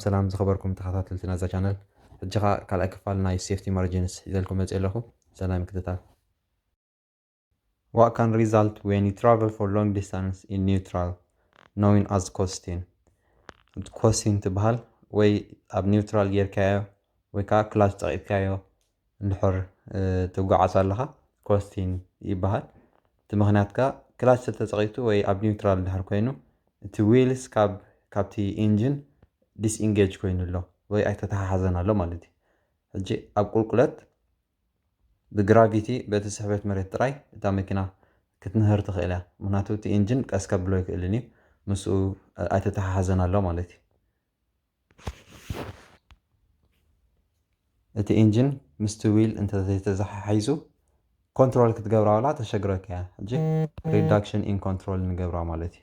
ሰላም ዝኸበርኩም ተኸታተልቲ ናዛ ቻነል ሕጂ ከኣ ካልኣይ ክፋል ናይ ሴፍቲ ማርጂንስ ሒዘልኩም መጽየ ኣለኹ ሰናይ ምክትታል What can result when you travel for long distance in neutral known as ኮስቲን ኮስቲን ትበሃል ወይ ኣብ ኒውትራል ጌርካዮ ወይ ከዓ ክላች ጸቂጥካዮ እንድሕር ትጓዓዝ ኣለኻ ኮስቲን ይበሃል እቲ ምኽንያት ከኣ ክላች ተተጸቒቱ ወይ ኣብ ኒውትራል እንድሕር ኮይኑ እቲ ዊልስ ካብ ካብቲ ኢንጅን ዲስኢንጌጅ ኮይኑ ኣሎ ወይ ኣይተተሓሓዘን ኣሎ ማለት እዩ ሕጂ ኣብ ቁልቁለት ብግራቪቲ በቲ ስሕበት መሬት ጥራይ እታ መኪና ክትንህር ትኽእል እያ ምክንያቱ እቲ ኢንጅን ቀስ ከብሎ ኣይክእልን እዩ ምስኡ ኣይተተሓሓዘን ኣሎ ማለት እዩ እቲ ኢንጂን ምስቲ ዊል እንተዘይተዘሓሒዙ ኮንትሮል ክትገብራ ወላ ተሸግረካ እያ ሕጂ ሪዳክሽን ኢን ኮንትሮል ንገብራ ማለት እዩ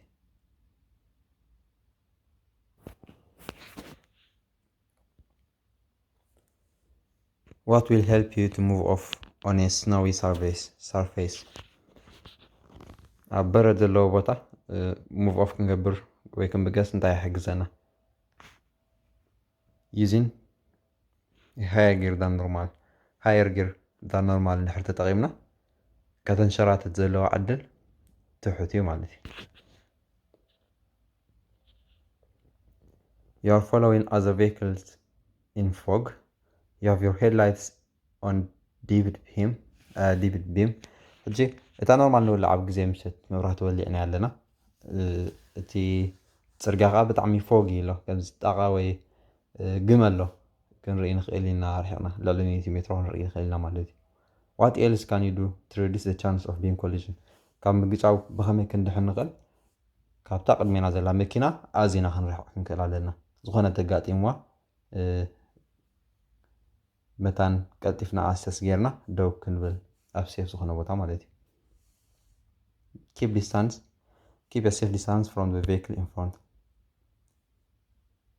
What will help you to move off on a snowy surface? surface? ኣብ በረድ ዘለዎ ቦታ ሙቭ ኦፍ ክንገብር ወይ ክንብገስ እንታይ ይሕግዘና? ዩዚን ሃየር ጊር ዳን ኖርማል ሃየር ጊር ዳን ኖርማል እንድሕር ተጠቒምና ከተንሸራትት ዘለዎ ዕድል ትሑት እዩ ማለት እዩ። You are following other vehicles in fog. You have your headlights on ዲቪድ ቢም ዲቪድ ቢም ሕጂ እታ ኖርማል ንውላዕ ኣብ ግዜ ምሸት መብራህቲ ወሊዕና ኣለና እቲ ፅርግያ ከዓ ብጣዕሚ ፎግ ኢሎ ከምዚ ጣቃ ወይ ግመ ኣሎ ክንርኢ ንኽእል ኢና ርሒቕና ልዕሊ ሚእቲ ሜትሮ ክንርኢ ንኽእል ኢና ማለት እዩ ዋት ኤልስ ካን ዩ ዱ ቱ ሪዲስ ዘ ቻንስ ኦፍ ቢም ኮሊዥን ካብ ምግጫው ብኸመይ ክንድሕን ንኽእል ካብታ ቅድሜና ዘላ መኪና ኣዚና ክንርሕቕ ክንክእል ኣለና። ዝኾነ እንተጋጢምዋ መታን ቀልጢፍና ኣሰስ ጌርና ደው ክንብል ኣብ ሴፍ ዝኾነ ቦታ ማለት እዩ። ኪፕ ዲስታንስ ኪፕ ሴፍ ዲስታንስ ፍሮም ዘ ቬክል ኢን ፍሮንት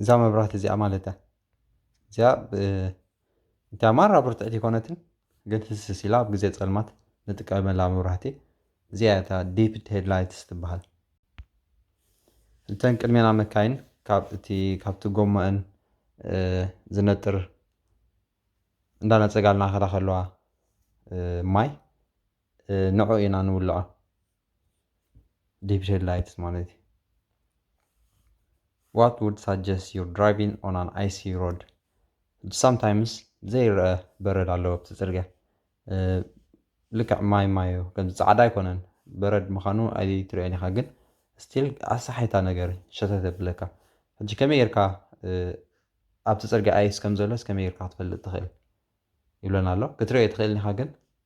እዛ መብራህቲ እዚኣ ማለት እያ እዚኣ እታ ማራ ብርትዕቲ ኮነትን ግን ህስስ ኢላ ኣብ ግዜ ጸልማት ንጥቀመላ መብራህቲ እዚኣ እታ ዲፕድ ሄድላይትስ ትበሃል እተን ቅድሜና መካይን ካብቲ ካብቲ ጎማአን ዝነጥር እንዳነጸጋልና ከዳ ከለዋ ማይ ንዕኡ ኢና ንውልዖ ዲፕ ላይትስ ማለት እዩ ዋት ውድ ሳጀስት ዩር ድራይቪንግ ኦን ኣን ኣይሲ ሮድ ሳምታይምስ ዘይረአ በረድ ኣለዎ ኣብቲ ፅርግያ ልክዕ ማይ ማዮ ከምዚ ፃዕዳ ኣይኮነን በረድ ምዃኑ ኣይትርእዮን ኢኻ ግን ስቲል ኣሰሓይታ ነገር ሸተት የብለካ ሕጂ ከመይ ጌርካ ኣብቲ ፅርግያ ኣይስ ከም ዘሎስ ከመይ ጌርካ ክትፈልጥ ትኽእል ይብለና ኣሎ ክትርእዮ ትኽእል ኢኻ ግን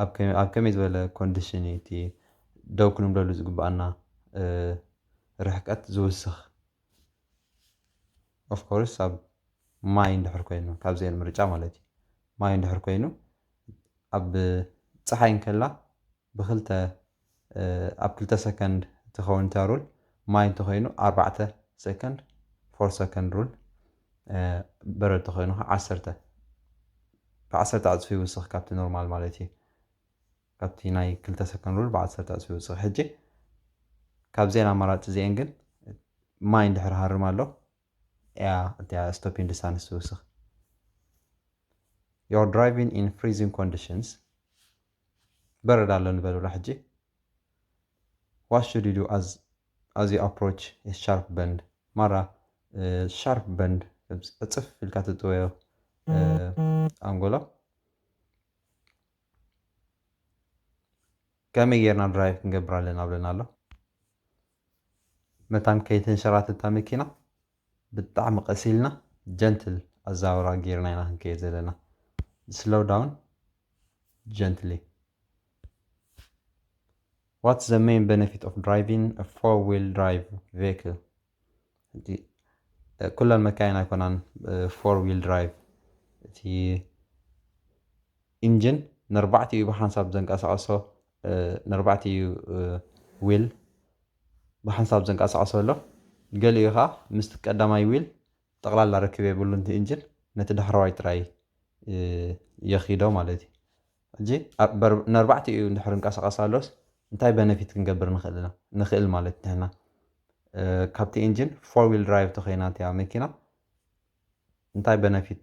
ኣብ ከመይ ዝበለ ኮንድሽን እዩ እቲ ደው ክንብለሉ ዝግበኣና ርሕቀት ዝውስኽ? ኦፍ ኮርስ ኣብ ማይ እንድሕር ኮይኑ ካብ ዘየለ ምርጫ ማለት እዩ። ማይ እንድሕር ኮይኑ ኣብ ፀሓይ እንከላ ብኽልተ ኣብ ክልተ ሰከንድ ትከውን እታ ሩል ማይ እንተኮይኑ ኣርባዕተ ሰከንድ ፎር ሰከንድ ሩል በረድ ተኮይኑ ከ ዓሰርተ ብዓሰርተ ዕጽፊ ይውስኽ ካብቲ ኖርማል ማለት እዩ ካብቲ ናይ ክልተ ሰከንድ ሩል ብዓሰርተ ዕጽፊ ይውስኽ ሕጂ ካብዘን ኣማራጺ እዚኤን ግን ማይ እንድሕር ሃርም ኣሎ እያ እቲያ ስቶፒን ዲስታንስ ትውስኽ You're driving in freezing conditions በረድ ኣሎ ንበሉላ ሕጂ ዋት ሹድ ዩ ዱ ኣዝ ኣዝ ዩ ኣፕሮች ኤ ሻርፕ በንድ ማራ ሻርፕ በንድ ዕፅፍ ኢልካ ትጥወዮ ኣንጎሎ ከመይ ጌርና ድራይቭ ክንገብር ኣለና ብለና ኣሎ መታን ከይተንሸራተት እታ መኪና ብጣዕሚ ቀስ ኢልና ጀንትል ኣዛውራ ጌርና ኢና ክንከይድ ዘለና ስሎው ዳውን ጀንትሊ ዋትስ ዘ መይን በነፊት ኦፍ ድራይቪን ፎር ዊል ድራይቭ ቬክል እቲ ኩለን መካይን ኣይኮናን ፎር ዊል ድራይቭ እቲ ኢንጅን ነርባዕቲኡ ብሓንሳብ ዘንቀሳቐሶ ነርባዕቲኡ ዊል ብሓንሳብ ዘንቀሳቐሶ ኣሎ ገሊኡ ኸዓ ምስቲ ቀዳማይ ዊል ጠቕላላ ርክብ የብሉን እቲ ኢንጅን ነቲ ዳሕረዋይ ጥራይ የኺዶ ማለት እዩ ሕጂ ኣብ ነርባዕቲኡ እንድሕር እንቀሳቀስ ኣሎስ እንታይ በነፊት ክንገብር ንክእል ኢና ንክእል ማለት ንሕና ካብቲ ኢንጂን ፎር ዊል ድራይቭ ተኮይና እቲኣ መኪና እንታይ በነፊት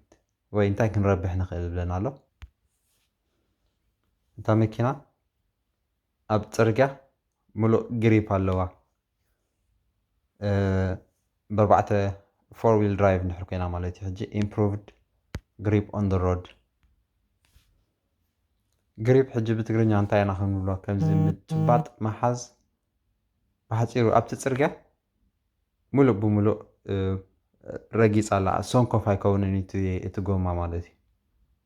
ወይ እንታይ ክንረብሕ ንክእል ይብለና ኣሎ እታ መኪና ኣብ ጽርግያ ምሉእ ግሪፕ ኣለዋ በርባዕተ ፎር ዊል ድራይቭ ንሕር ኮይና ማለት እዩ ሕጂ ኢምፕሩቭድ ግሪፕ ኦን ደ ሮድ ግሪፕ ሕጂ ብትግርኛ እንታይ ኢና ክንብሎ ከምዚ ምጭባጥ መሓዝ ብሓፂሩ ኣብቲ ፅርግያ ሙሉእ ብሙሉእ ረጊፅ ኣላ ሶንኮፍ ኣይከውንን እቲ ጎማ ማለት እዩ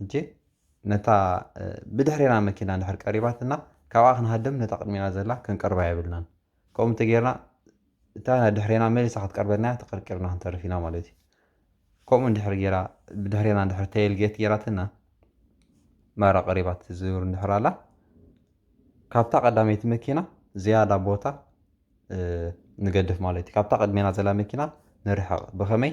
ሕጂ ነታ ብድሕሬና መኪና እንድሕር ቀሪባትና ካብኣ ክንሃድም ነታ ቅድሜና ዘላ ክንቀርባ የብልናን። ከምኡ እንተጌርና እታ ድሕሬና መሊሳ ክትቀርበና'ያ ተቀርቂርና ክንተርፍ ኢና ማለት እዩ። ከምኡ እንድሕር ጌራ ብድሕሬና እንድሕር ተይል ጌት ጌራትና ማራ ቀሪባ ትዝውር እንድሕር ኣላ ካብታ ቀዳመይቲ መኪና ዝያዳ ቦታ ንገድፍ ማለት እዩ። ካብታ ቅድሜና ዘላ መኪና ንርሕቅ ብኸመይ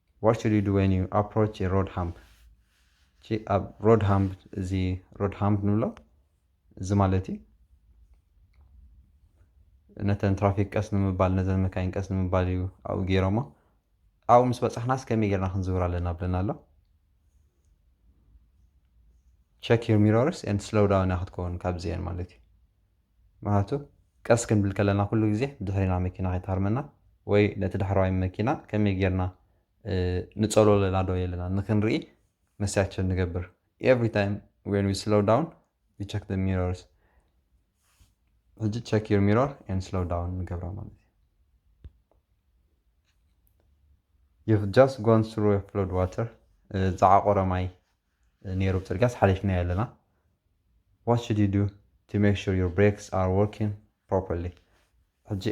What should you do when you approach a road hump? ቺ ኣብ ሮድ ሃምፕ እዚ ሮድ ሃምፕ ንብሎ እዚ ማለት እዩ ነተን ትራፊክ ቀስ ንምባል ነዘን መካይን ቀስ ንምባል እዩ ኣብኡ ገይሮሞ ኣብኡ ምስ በፃሕናስ ከመይ ጌርና ክንዝውር ኣለና ብለና ኣሎ ቸክ ዩር ሚሮርስ ኤንድ ስሎው ዳውን ክትከውን ካብዚአን ማለት እዩ ምክንያቱ ቀስ ክንብል ከለና ኩሉ ግዜ ብድሕሪና መኪና ከይትሃርመና ወይ ነቲ ዳሕረዋይ መኪና ከመይ ጌርና ንጸልዎ ኣለና ዶ የለናን ንክንርኢ መስትያት ቸክ ንገብር every time when we slow down we check the mirrors ሕጂ ቸክ ዩር ሚሮር ኤንድ ስሎው ዳውን ንገብራ ማለት እዩ you've just gone through a flood water ዛዓቆረ ማይ ኔሩ ብ ጽርግያስ ሓሊፍናዮ ኣለና what should you do to make sure your brakes are working properly ሕጂ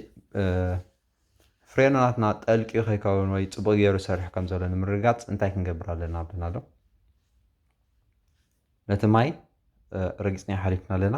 ፍሬኖናትና ጠልቅዩ ከይከውን ወይ ጽቡቕ ገይሩ ይሰርሕ ከም ዘሎ ንምርግጋጽ እንታይ ክንገብር ኣለና ብለናዶ ነቲ ማይ ረጊጽናዮ ሓሊፍና ኣለና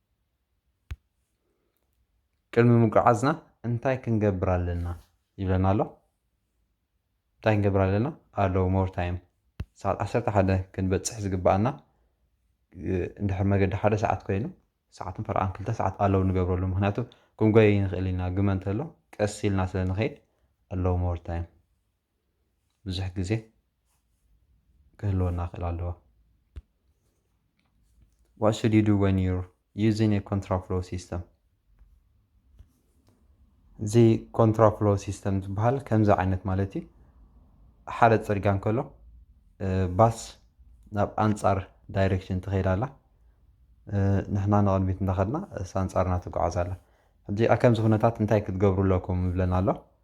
ቅድሚ ምጉዓዝና እንታይ ክንገብር ኣለና ይብለና ኣሎ እንታይ ክንገብር ኣለና ኣሎ ሞር ታይም ሰዓት ዓሰርተ ሓደ ክንበፅሕ ዝግብኣና እንድሕር መገዲ ሓደ ሰዓት ኮይኑ ሰዓትን ፈረቓን ክልተ ሰዓት ኣለው ንገብረሉ ምክንያቱ ክንጎይ ንኽእል ኢና ግመ እንተሎ ቀስ ኢልና ስለ ንኸይድ ኣለው ሞር ታይም ብዙሕ ግዜ ክህልወና ይኽእል ኣለዎ። What should you do when you're using a contraflow system? እዚ ኮንትራፍሎ ሲስተም ዝበሃል ከምዚ ዓይነት ማለት እዩ ሓደ ፅርግያ እንከሎ ባስ ናብ ኣንፃር ዳይሬክሽን ትኸይድ ኣላ ንሕና ንቕድሚት እንዳኸድና እሳ ኣንፃርና ትጓዓዝ ኣላ ሕጂ ከምዚ ኩነታት እንታይ ክትገብሩ ኣለኩም ይብለና ኣሎ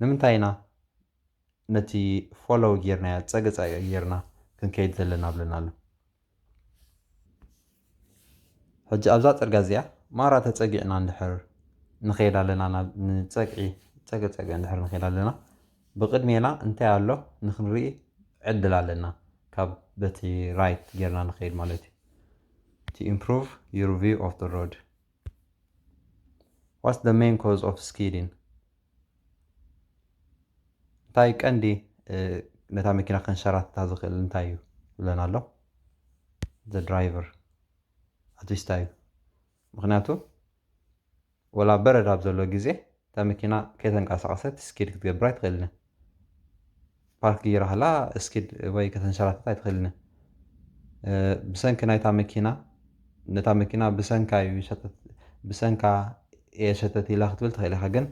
ንምንታይ ኢና ነቲ ፎሎው ጌርናዮ ጸገ ጸገ ጌርና ክንከይድ ዘለና ብለና ኣሎ። ሕጂ ኣብዛ ጽርግያ እዚኣ ማራ ተጸጊዕና እንድሕር ንኸይድ ኣለና ናብ ንጸግዒ ጸገ ጸገ እንድሕር ንኸይድ ኣለና ብቕድሜና እንታይ ኣሎ ንክንርኢ ዕድል ኣለና ካብ በቲ ራይት ጌርና ንኸይድ ማለት እዩ። to improve your view of the road። ዋትስ ዘ መይን ኮዝ ኦፍ ስኪዲን እንታይ ቀንዲ ነታ መኪና ከንሸራትታ ዝኽእል እንታይ እዩ ብለን ኣሎ ዘ ድራይቨር ኣትስታ እዩ ምክንያቱ ወላ በረድ ኣብ ዘሎ ግዜ እታ መኪና ከይተንቀሳቐሰት ስኪድ ክትገብር ኣይትኽእልን እያ። ፓርክ ገይራ ከላ ስኪድ ወይ ከተንሸራትት ኣይትኽእልን እያ። ብሰንኪ ናይታ መኪና ነታ መኪና ብሰንካ እዩ ሸተት ብሰንካ እየ ሸተት ኢላ ክትብል ትኽእል ኢኻ ግን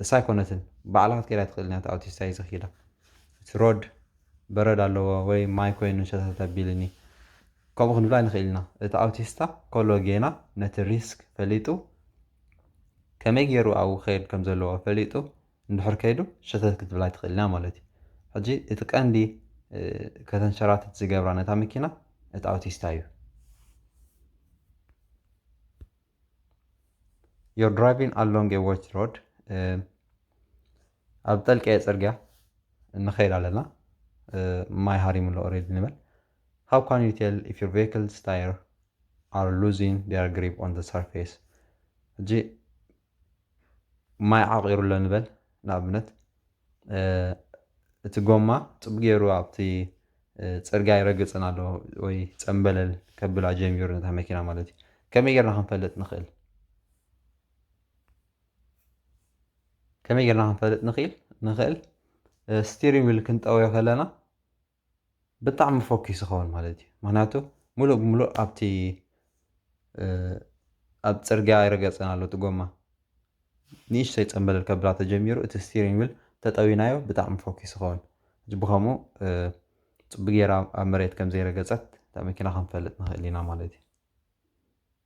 እሳ ኣይኮነትን ባዕላ ክትከይድ ኣይትኽእልን እያ እታ ኣውቲስታ እዩ ዘኽይዳ እቲ ሮድ በረድ ኣለዎ ወይ ማይ ኮይኑ ሸተት ኣቢልኒ ከምኡ ክንብል ኣይንኽእል ኢና እቲ ኣውቲስታ ከሎ ጌና ነቲ ሪስክ ፈሊጡ ከመይ ጌሩ ኣብኡ ክኸይድ ከም ዘለዎ ፈሊጡ እንድሕር ከይዱ ሸተት ክትብላ ኣይትኽእልን እያ ማለት እዩ። ሕጂ እቲ ቀንዲ ከተንሸራትት ዝገብራ ነታ መኪና እቲ ኣውቲስታ እዩ። You're driving along a watch road ኣብ ጠልቀየ ጽርግያ ንኸይድ ኣለና ማይ ሃሪሙሎ ኦሬዲ ንበል How can you tell if your vehicle's tire are losing their grip on the surface? ሕጂ ማይ ዓቂሩ ኣሎ ንበል ንኣብነት እቲ ጎማ ጽቡቅ ጌሩ ኣብቲ ጽርግያ ይረግጽን ኣሎ ወይ ጸምበለል ከብላ ጀሚሩ ነታ መኪና ማለት እዩ ከመይ ጌርና ክንፈልጥ ንኽእል ከመይ ጌርና ክንፈልጥ ንኽእል ንኽእል ስቲሪንግ ዊል ክንጠወዮ ከለና ብጣዕሚ ፎኪስ ይኸውን ማለት እዩ ምክንያቱ ሙሉእ ብሙሉእ ኣብቲ ኣብ ፅርግያ ይረገፀን ኣሎ እቲ ጎማ ንእሽተይ ፀምበለል ከብላ ተጀሚሩ እቲ ስቲሪንግ ዊል ተጠዊናዮ ብጣዕሚ ፎኪስ ይኸውን እዚ ብከምኡ ፅቡቅ ጌራ ኣብ መሬት ከም ዘይረገፀት እታ መኪና ክንፈልጥ ንክእል ኢና ማለት እዩ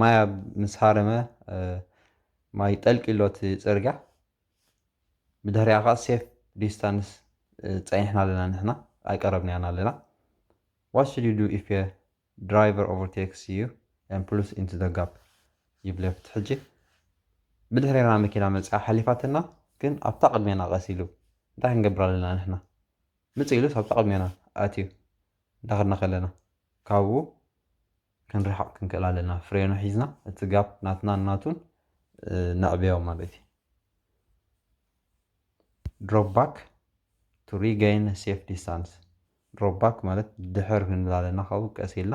ማይ ምስ ሃረመ ማይ ጠልቂ ኣሎ እቲ ፅርግያ ብድሕሪኣ ከዓ ሴፍ ዲስታንስ ፀኒሕና ኣለና ንሕና ኣይቀረብናያን ኣለና ዋት ሹድ ዩ ዱ ኢፍ ድራይቨር ኦቨርቴክስ ዩ ን ፕሉስ ኢንቱ ዘ ጋፕ ይብለ ፍቲ ሕጂ ብድሕሪና መኪና መፅኣ ሓሊፋትና ግን ኣብታ ቅድሜና ቀስ ኢሉ እንታይ ክንገብር ኣለና ንሕና ምፅ ኢሉስ ኣብታ ቅድሜና ኣትዩ እንዳኸድና ከለና ካብኡ ክንርሕቕ ክንክእል ኣለና። ፍሬኑ ሒዝና እቲ ጋፕ ናትናን ናቱን ነዕብዮ ማለት እዩ። ድሮፕ ባክ ቱ ሪገይን ሴፍ ዲስታንስ ድሮፕ ባክ ማለት ድሕር ክንብል ኣለና ካብኡ ቀስ ኢልና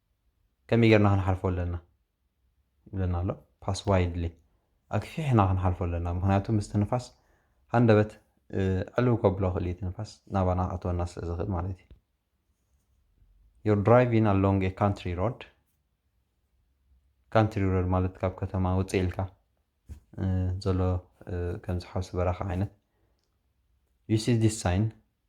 ከመይ ጌርና ክንሓልፎ ኣለና ይብለና ኣሎ ፓስ ዋይድሊ ኣግፊሕና ክንሓልፎ ኣለና ምክንያቱ ምስቲ ንፋስ ሃንደበት ዕልው ከብሎ ክእል እቲ ንፋስ ናባና ክእትወና ስለ ዝኽእል ማለት እዩ ዩር ድራይቪን ኣሎንግ ኤ ካንትሪ ሮድ ካንትሪ ሮድ ማለት ካብ ከተማ ውፅእ ኢልካ ዘሎ ከምዚ ሓውሲ በረኻ ዓይነት ዩ ሲ ዲስ ሳይን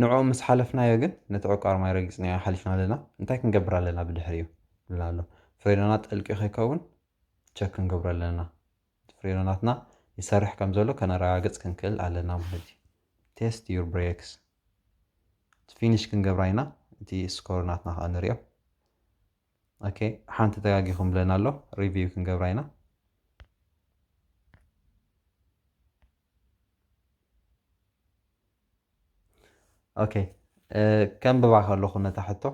ንዕኡ ምስ ሓለፍናዮ ግን ነቲ ዕቋር ማይ ረጊጽናዮ ሓሊፍና ኣለና፣ እንታይ ክንገብር ኣለና ብድሕሪኡ? ይብለና ኣሎ። ፍሬኖና ጥልቂ ከይከውን ቸክ ክንገብሮ ኣለና፣ እቲ ፍሬኖናትና ይሰርሕ ከም ዘሎ ከነረጋግጽ ክንክእል ኣለና ማለት እዩ። ቴስት ዩር ብሬክስ እቲ ፊኒሽ ክንገብራ ኢና፣ እቲ ስኮር ናትና ከኣ ንሪኦ። ኦኬ ሓንቲ ተጋጊኹም ይብለና ኣሎ፣ ሪቪው ክንገብራ ኢና። ኦኬ ከንብባ ከለኹ ነታ ሕቶ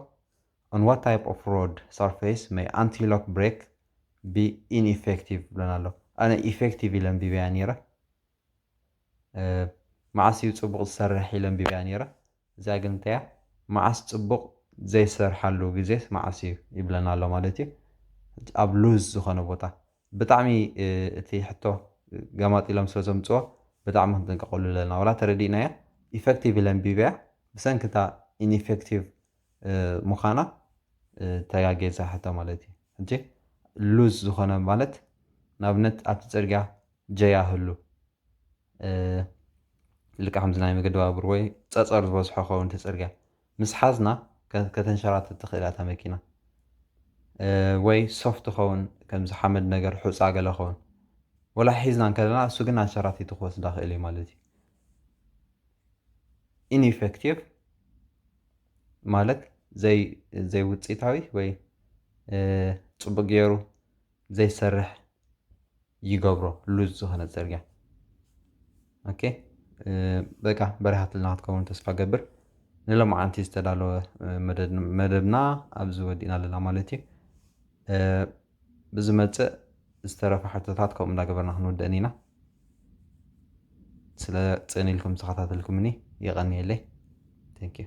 on what type of road surface may anti-lock brake be ineffective ብለን ኣሎ ኣነ ኢፌክቲቭ ኢለ ኣንቢበያ ነይረ መዓስ እዩ ፅቡቕ ዝሰርሕ ኢለ ኣንቢበያ ነይረ እዚኣ ግን እንተያ መዓስ ፅቡቕ ዘይሰርሓሉ ግዜስ መዓስ እዩ ይብለና ኣሎ ማለት እዩ ኣብ ሉዝ ዝኾነ ቦታ ብጣዕሚ እቲ ሕቶ ገማጢሎም ስለ ዘምጽዎ ብጣዕሚ ክንጥንቀቀሉ ኣለና ዋላ ተረዲእናያ ኢፈክቲቭ ኢለ ኣንቢበያ ብሰንኪ እታ ኢንኢፈክቲቭ ምዃና ተጋግየ እዛ ሕቶ ማለት እዩ ሕጂ ሉዝ ዝኾነ ማለት ንኣብነት ኣብቲ ጽርግያ ጀያ ህሉ ልክዕ ከምዚ ናይ መገዲ ባቡር ወይ ጸጸር ዝበዝሖ ከውን እቲ ጽርግያ ምስ ሓዝና ከተንሸራትት ትኽእል እያ እታ መኪና ወይ ሶፍት ኸውን ከምዚ ሓመድ ነገር ሑጻ ገለ ኸውን ወላ ሒዝና እንከለና እሱ ግን ኣንሸራቲቱ ክወስዳ ክእል እዩ ማለት እዩ ኢንኢፌክቲቭ ማለት ዘይ ዘይውጽኢታዊ ወይ ጽቡቅ ገይሩ ዘይሰርሕ ይገብሮ ሉዝ ዝኾነ ፅርግያ ኦኬ በቃ በሪሃትልና ክትከውን ተስፋ ገብር ንሎማዓንቲ ዝተዳለወ መደብና ኣብዚ ወዲእና ኣለና ማለት እዩ ብዝመፅእ ዝተረፈ ሕቶታት ከምኡ እንዳገበርና ክንውድእን ኢና ስለ ፅን ኢልኩም ተኸታተልኩምኒ የቐንየለይ ቴንኪዩ